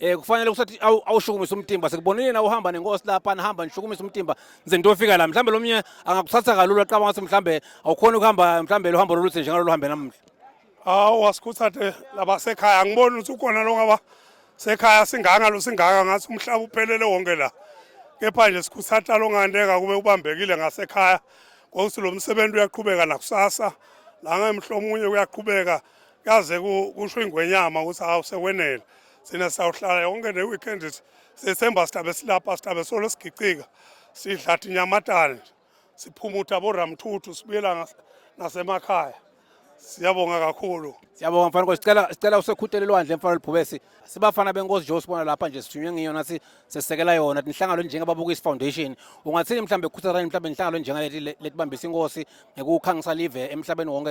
eh kufanele kusathi awushukumise umtimba sikubonile na uhamba nenkosi lapha nihamba nishukumise umtimba nze ntofika la mhlambe lomnye angakuthatha kalula qaba ngathi mhlambe awukhona ukuhamba mhlambe lo hambo loluthe njengalo luhambe namuhla awu wasikhuthathe labasekhaya angiboni ukuthi ukhona lo ngaba sekhaya singanga lo singanga ngathi umhlaba uphelele wonke la kepha nje sikhuthatha lo ngandeka kube ubambekile ngasekhaya ngokuthi lo msebenzi uyaqhubeka nakusasa la ngemhlomunye uyaqhubeka kaze kusho ingwenyama ukuthi hawu sekwenele sina sawuhlala yonke ne-weekend sethemba sihlabe silapha sihlabe solo sigicika sidlathi nyamatane siphumutha boramthuthu sibuyela nasemakhaya siyabonga kakhulu siyabonga mfana nkosi sicela sicela usekhutele lwandle mfana lubhubesi sibafana benkosi nje usibona lapha nje sithunywe ngiyo nathi sesekela yona inhlangano njengababukisi foundation ungathini mhlawumbe kukhuthazani mhlawumbe inhlangano njengalethi letibambisa inkosi ngekukhangisa live emhlabeni wonke